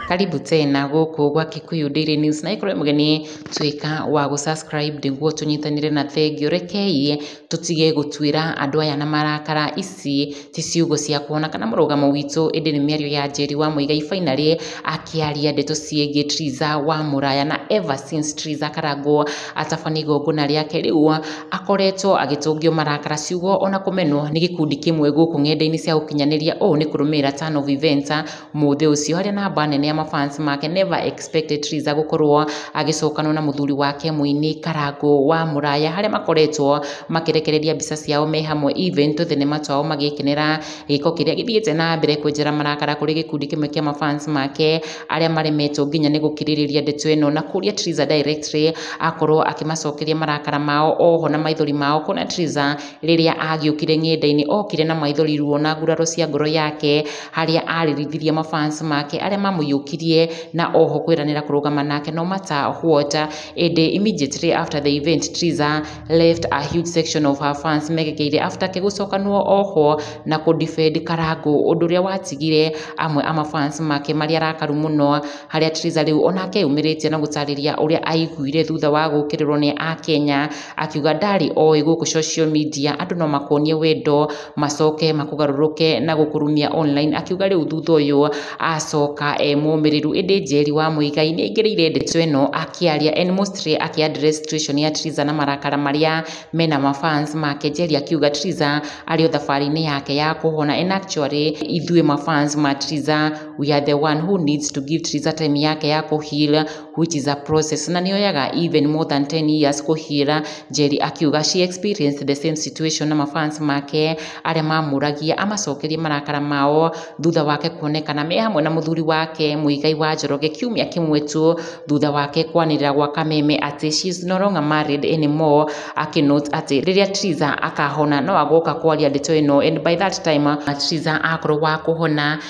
karibu tena gũkũ gwa kikuyu daily news na ikorwo mũgeni tuĩka wa gũ subscribe nĩguo tũnyitanĩre na thengio rekei tũtige gũtuĩra andũ aya na marakara ici ti ciugo ciakwa ona kana mũrũgamo witũ, ĩndĩ nĩ mĩario ya Njeri wa Muigai finally akĩaria ndeto ciĩgiĩ Triza wa Mũraya na ever since Triza Karangũ atabania igongona rĩake rĩu, akoretwo agĩtũngio marakara, ciugo ona kũmenwo nĩ gĩkundi kĩmwe gũkũ ng'enda-inĩ cia ũkinyanĩria, ũũ nĩ kũrũmĩrĩra turn of events. mũthĩ ũcio harĩa namba nene ya mabans make Never Expect It Riza gũkorwo agĩcokanwo na mũthuri wake mũini Karangũ wa Mũraya harĩa makoretwo makĩrekereria mbica ciao me hamwe even tũthenema twao magĩkenera gĩko kĩrĩa gĩthiĩte na mbere kwenjera marakara kũrĩ gĩkundi kĩmwe kĩa mabans make arĩa maremetwo nginya nĩ gũkirĩrĩria ndeto ĩno na kũria Triza directly akorwo akĩmacokeria marakara mao oho na maithori mao kuona Triza rĩrĩa agĩũkire ng'enda-inĩ okire na maithori ruo na nguraro cia ngoro yake harĩa arĩrithirie ma fans make arĩa mamũiyũkirie na oho kwĩranĩra kũrũgama nake no matter what. Ĩndĩ immediately after the event Triza left a huge section of her fans megegeire after ke gũcokanwo oho na kũ defend Karangũ ũndũ ũrĩa watigire amwe a ma fans make marĩ arakaru mũno harĩa Triza rĩu onake eyumĩrĩtie na gũtarĩria ũrĩa aiguire thutha wa gũkĩrĩrwo nĩ Akenya akiuga ndarĩ oĩ gũkũ social media andũ no makuonie wendo macoke makũgarũrũke na gũkũrumia online akiuga rĩu thutha ũyũ acoka e mũmĩrĩru ĩndĩ Njeri wa Mũigai nĩ aingĩrĩire ndeto ĩno akĩaria and mostly akĩ address situation ya Triza na marakara marĩa mena mafans make Njeri akiuga Triza arĩ o thabarĩ-inĩ yake ya kũhona and actually ithuĩ mafans ma Triza we are the one who needs to give Triza time yake ya kũheal which is a process na nĩoyaga even more than 10 years kũhiĩra Njeri akiuga she experienced the same situation na mafans make arĩa mamũragia amacokerie marakara mao thutha wake kuonekana me hamwe na mũthuri wake Mũigai wa Njoroge kiumia kĩmwe tu thutha wake kwanĩrĩra gwa Kameme atĩ she is no longer married anymore akĩnote atĩ rĩrĩa Triza akahona no agoka kwaria ndeto ĩno and by that time Triza akorwo wa kũhona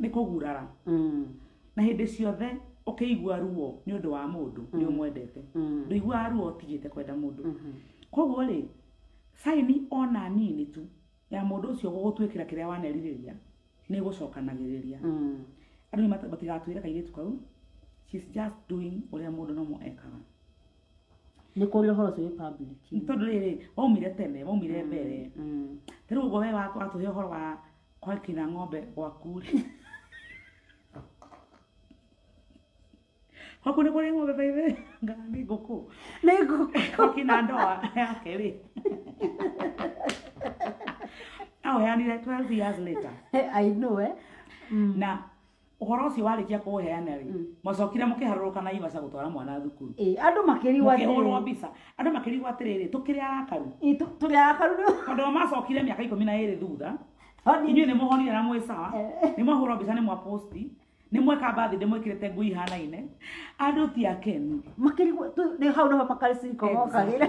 nĩ kũgurara na hĩndĩ ciothe ũkĩigua ruo nĩ ũndũ wa mũndũ nĩ ũmwendete ndũiguaga ruo ũtigĩte kwenda mũndũ koguo rĩ saini ona nini tu ya mũndũ ũcio gũgũtuĩkĩra kĩrĩa wanerirĩria nĩ ĩgũcokanagĩrĩria andũ nĩ mat- matigatwĩre kairĩtu kau she's just doing ũrĩa mũndũ nomo ekaga nĩ kũrĩ ũhoro ũcio wĩ public Nĩ tondũ rĩrĩ waumire tene waumire mbere tarĩu ũguo we watũhe ũhoro wa Kwaki na ng'ombe gwaku rĩ? Gwaku nĩ kũrĩ ng'ombe baithe ngana nĩ ngũkũ. Nĩ ngũkũ. Kwaki na ndoa yake rĩ? Aũheanire 12 years later. I know eh. Na Ũhoro ũcio warĩkia kũũheana-rĩ, Mm. mwacokire mũkĩharũrũka na Ivaca gũtwara mwana thukuru. Ĩ, andũ makĩrigwo Mũkĩhũrwo atĩrĩrĩ, mbica. Andũ makĩrigwo atĩrĩrĩ, tũkĩrĩ arakaru. "Ĩ, tũ- tũrĩ arakaru nĩ Tondũ o macokire mĩaka ikũmi na ĩrĩ thutha, Tondũ- inyuĩ nĩ mũhonire na mwĩ sawa, Eh. nĩ mwahũrwo mbica nĩ mwaposti, nĩ mweka mbathi ndĩ mwĩkĩrĩte nguo ihanaine. Andũ ti akenu. makĩrigwo tu- nĩ hau nĩho makaricirika gokagĩra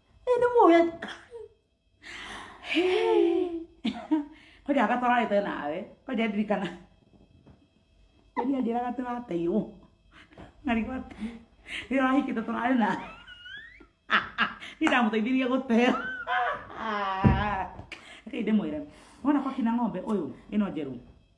Ĩ nĩ mũĩ kwendia gatwararĩte nawe kwendia ndirikana kwendia njĩraga tũrateirwo ngarigwo atĩ rĩrĩa wahikĩte tũrarĩ na nĩ ndamũteithirie gũteo reke ndĩmwĩre wona kwakina ng'ombe ũyũ ĩno njerũ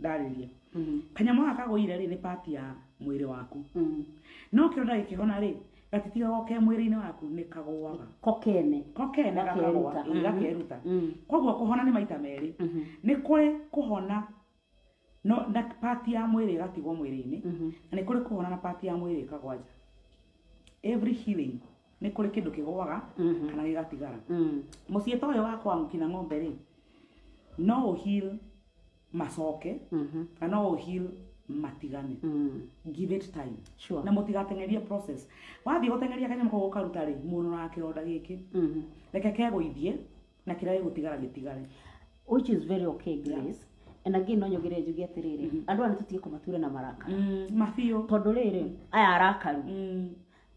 ndarĩrie kanyamũ gaka kagũire rĩ nĩ pati ya mwĩrĩ waku no kĩronda gĩkĩhona rĩ gatitigagwo ke mwĩrĩ-inĩ waku nĩ kagũaga ko kene ko kene gakagũa Gakeruta. ĩ, gakeruta Mm. koguo kũhona nĩ maita merĩ nĩ kũrĩ kũhona no na pati ya mwĩrĩ ĩgatigwo mwĩrĩ-inĩ na nĩ kũrĩ kũhona na pati ya mwĩrĩ ĩkagwa nja every healing nĩ kũrĩ kĩndũ kĩgũaga Mhm. kana gĩgatigara Mm. mũciĩ ta ũyũ wakwa ngina ng'ombe rĩ no ũhil macoke Mhm. kana o heal matigane Mm. give it time Sure. na mũtigateng'erie process wathiĩ gũteng'eria kanyamũ kau ũkaruta rĩ mũndũ na kĩronda gĩkĩ Mhm. reke kegũithie na kĩrĩa gĩgũtigara gĩtigare which is very okay grace and again no nyogere njuge atĩrĩrĩ andũ aya nĩtũtige kũmatura na maraka Mm, mabiũ tondũ rĩrĩ aya arakaru Mm,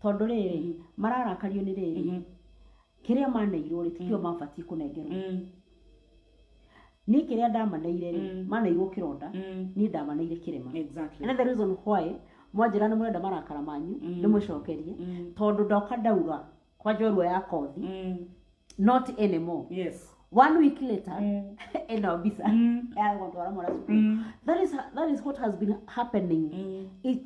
tondũ rĩrĩ mararakario nĩ rĩrĩ kĩrĩa maneirwo rĩ tikĩo mabatiĩ kũnengerwo niĩ kĩrĩa ndamaneire rĩ maneirwo kĩronda niĩ ndamaneire kĩrema exactly and the reason why mwanjĩra nĩ mũrenda marakara manyu ndĩmũcokerie tondũ ndoka ndauga kwa njorua ya kothi not anymore yes one week later ĩno mbica ya gũtwara mwana cukuru that is that is what has been happening It-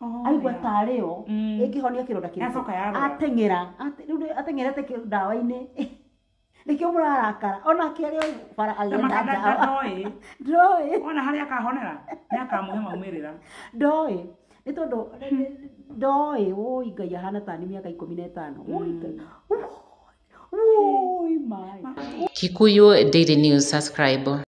Oh, aigua yeah. tarĩ o Mm. ĩngĩhonia kĩronda kĩrĩkũ? Yacoka yarwara. ateng'era Ate- rĩu nĩ- ateng'erete kĩ- ndawa-inĩ nĩkĩo mũrarakara ona kĩarĩ o bara agenda Ndamaka nda- ndawa ndoĩ ndoĩ ona harĩa akahonera nĩ akamũhe maumĩrĩra ndoĩ nĩ tondũ ndoĩ wũi ngai ahana tani mĩaka ikũmi na ĩtano wũi ngai wũi maĩ Kikuyu Daily News subscribe.